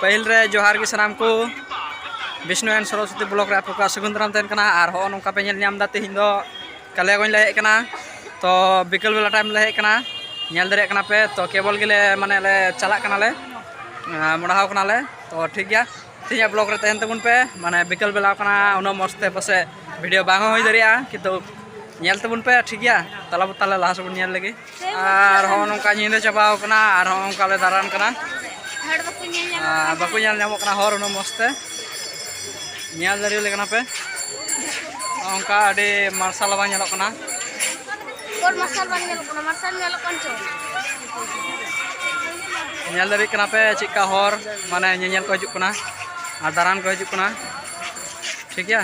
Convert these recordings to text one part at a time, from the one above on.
ᱯᱟᱹᱦᱤᱞ ᱨᱮ ᱡᱚᱦᱟᱨ ᱜᱮ ᱥᱟᱱᱟᱢ ᱠᱚ ᱵᱤᱥᱱᱩ ᱮᱱ ᱥᱚᱨᱚᱥᱚᱛᱤ ᱵᱞᱚᱠ ᱨᱮ ᱟᱯᱮ ᱠᱚᱣᱟᱜ ᱥᱟᱹᱜᱩᱱ ᱫᱟᱨᱟᱢ ᱛᱟᱦᱮᱱ ᱠᱟᱱᱟ ᱟᱨ ᱦᱚᱸ ᱱᱚᱝᱠᱟ ᱯᱮ ᱧᱮᱞ ᱧᱟᱢ ᱮᱫᱟ ᱛᱮᱦᱮᱧ ᱫᱚ ᱠᱟᱞᱤᱭᱟᱜᱚᱸᱡᱽ ᱞᱮ ᱦᱮᱡ ᱠᱟᱱᱟ ᱛᱚ ᱵᱤᱠᱮᱞ ᱵᱮᱞᱟ ᱴᱟᱭᱤᱢ ᱞᱮ ᱦᱮᱡ ᱠᱟᱱᱟ ᱧᱮᱞ ᱫᱟᱲᱮᱭᱟᱜ ᱠᱟᱱᱟ ᱯᱮ ᱛᱚ ᱠᱮᱵᱚᱞ ᱜᱮᱞᱮ ᱢᱟᱱᱮ ᱞᱮ ᱪᱟᱞᱟᱜ ᱠᱟᱱᱟᱞᱮ ᱢᱚᱰᱟᱣ ᱠᱟᱱᱟᱞᱮ ᱛᱚ ᱴᱷᱤᱠ ᱜᱮᱭᱟ ᱛᱮᱦᱮᱧᱟᱜ ᱵᱞᱚᱜ ᱨᱮ ᱛᱟᱦᱮᱱ ᱛᱟᱵᱚᱱ ᱯᱮ ᱢᱟᱱᱮ ᱵᱤᱠᱮᱞ ᱵᱮᱞᱟ ᱠᱟᱱᱟ ᱩᱱᱟᱹᱜ ᱢᱚᱡᱽ ᱛᱮ ᱯᱟᱥᱮ ᱵᱷᱤᱰᱤᱭᱳ ᱵᱟᱝ ᱦᱚᱸ ᱦᱩᱭ ᱫᱟᱲᱮᱭᱟᱜᱼᱟ ᱠᱤᱱᱛᱩ ᱧᱮᱞ ᱛᱟᱵᱚᱱ ᱯᱮ ᱴᱷᱤᱠ ᱜᱮᱭᱟ ᱛᱟᱦᱚᱞᱮ ᱛᱟᱦᱚᱞᱮ ᱞᱟᱦᱟ ᱥᱮᱫ ᱵᱚᱱ ᱧᱮᱞ ᱞᱮᱜᱮ ᱟᱨ ᱦᱚᱸ ᱱᱚᱝᱠᱟ ᱧᱤᱫᱟᱹ ᱪᱟᱵᱟᱣ ᱠᱟᱱᱟ ᱟᱨ ᱦᱚᱸ ᱚᱱᱠᱟ ᱞᱮ ᱫᱟᱬᱟᱱ ᱠᱟᱱᱟ ᱵᱟᱠᱚ ᱧᱮᱞ ᱧᱟᱢᱚᱜ ᱠᱟᱱᱟ ᱦᱚᱨ ᱩᱱᱟᱹᱜ ᱢᱚᱡᱽ ᱛᱮ ᱧᱮᱞ ᱫᱟᱲᱮᱭᱟᱞᱮ ᱠᱟᱱᱟ ᱯᱮ ᱚᱱᱠᱟ ᱟᱹᱰᱤ ᱢᱟᱨᱥᱟᱞ ᱵᱟᱝ ᱧᱮᱞᱚᱜ ᱠᱟᱱᱟ ᱢᱟᱨᱥᱟᱞ ᱵᱟᱝ ᱧᱮᱞᱚᱜ ᱠᱟᱱᱟ ᱢᱟᱨᱥᱟᱞ ᱧᱮᱞᱚᱜ ᱠᱟᱱ ᱪᱚ ᱧᱮᱞ ᱫᱟᱲᱮᱭᱟᱜ ᱠᱟᱱᱟ ᱯᱮ ᱪᱮᱫᱠᱟ ᱦᱚᱨ ᱢᱟᱱᱮ ᱧᱮᱧᱮᱞ ᱠᱚ ᱦᱤᱡᱩᱜ ᱠᱟᱱᱟ ᱟᱨ ᱫᱟᱬᱟᱱ ᱠᱚ ᱦᱤᱡᱩᱜ ᱠᱟᱱᱟ ᱴᱷᱤᱠ ᱜᱮᱭᱟ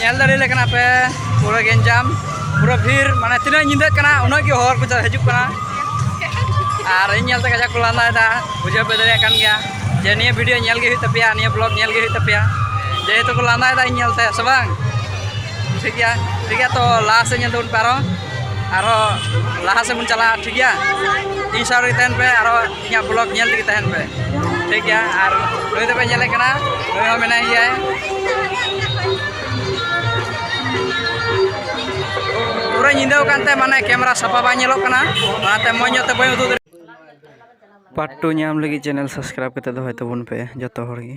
ᱧᱮᱞ ᱫᱟᱲᱮᱭᱟᱞᱮ ᱠᱟᱱᱟ ᱯᱮ ᱯᱩᱨᱟᱹ ᱜᱮᱧᱡᱟᱢ ᱯᱩᱨᱟᱹ ᱵᱷᱤᱲ ᱢᱟᱱᱮ ᱛᱤᱱᱟᱹᱜ ᱧᱤᱫᱟᱹᱜ ᱠᱟᱱᱟ ᱩᱱᱟᱹᱜ ᱜᱮ ᱦᱚᱲ ᱠᱚ ᱦᱤᱡᱩᱜ ᱠᱟᱱᱟ ᱟᱨ ᱤᱧ ᱧᱮᱞᱛᱮ ᱠᱟᱡᱟᱠ ᱠᱚ ᱞᱟᱸᱫᱟᱭᱮᱫᱟ ᱵᱩᱡᱷᱟᱹᱣ ᱯᱮ ᱫᱟᱲᱮᱭᱟᱜ ᱠᱟᱱ ᱜᱮᱭᱟ ᱡᱮ ᱱᱤᱭᱟᱹ ᱵᱷᱤᱰᱤᱭᱳ ᱧᱮᱞ ᱜᱮ ᱦᱩᱭᱩᱜ ᱛᱟᱯᱮᱭᱟ ᱱᱤᱭᱟᱹ ᱵᱞᱚᱜ ᱧᱮᱞ ᱜᱮ ᱦᱩᱭᱩᱜ ᱛᱟᱯᱮᱭᱟ ᱡᱮᱦᱮᱛᱩ ᱠᱚ ᱞᱟᱸᱫᱟᱭᱮᱫᱟ ᱤᱧ ᱧᱮᱞᱛᱮ ᱥᱮ ᱵᱟᱝ ᱴᱷᱤᱠ ᱜᱮᱭᱟ ᱴᱷᱤᱠ ᱜᱮᱭᱟ ᱛᱚ ᱞᱟᱦᱟ ᱥᱮᱫ ᱧᱮᱞ ᱛᱟᱵᱚᱱ ᱯᱮ ᱟᱨᱦᱚᱸ ᱟᱨᱦᱚᱸ ᱞᱟᱦᱟ ᱥᱮᱫ ᱵᱚᱱ ᱪᱟᱞᱟᱜᱼᱟ ᱴᱷᱤᱠ ᱜᱮᱭᱟ ᱤᱧ ᱥᱟᱶ ᱨᱮᱜᱮ ᱛᱟᱦᱮᱱ ᱯᱮ ᱟᱨᱦᱚᱸ ᱤᱧᱟᱹᱜ ᱵᱞᱚᱜ ᱧᱮᱞ ᱛᱮᱜᱮ ᱛᱟᱦᱮᱱ ᱯᱮ ᱴᱷᱤᱠ ᱜᱮᱭᱟ ᱟᱨ ᱱᱩᱭ ᱫᱚᱯᱮ ᱧᱮᱞᱮ ᱠᱟᱱᱟ ᱱᱩᱭ ᱦᱚᱸ ᱢᱮᱱᱟᱭ ᱜᱮᱭᱟᱭ ᱯᱩᱨᱟᱹ ᱧᱤᱫᱟᱹ ᱠᱟᱱᱛᱮ ᱢᱟᱱᱮ ᱠᱮᱢᱮᱨᱟ ᱥᱟᱯᱷᱟ ᱵᱟᱝ ᱧᱮᱞᱚᱜ ᱠᱟᱱᱟ ᱚᱱᱟᱛᱮ ᱢᱚᱡᱽ ᱧᱚᱜ ᱛᱮ ᱵᱟᱹᱧ ᱩᱫᱩᱜ ᱫᱟᱲᱮᱭᱟᱜ ᱯᱟᱨᱴ ᱴᱩ ᱧᱟᱢ ᱞᱟᱹᱜᱤᱫ ᱪᱮᱱᱮᱞ ᱥᱟᱵᱥᱠᱨᱟᱭᱤᱵ ᱠᱟᱛᱮ ᱫᱚᱦᱚᱭ ᱛᱟᱵᱚᱱ ᱯᱮ ᱡᱚᱛᱚ ᱦᱚᱲ ᱜᱮ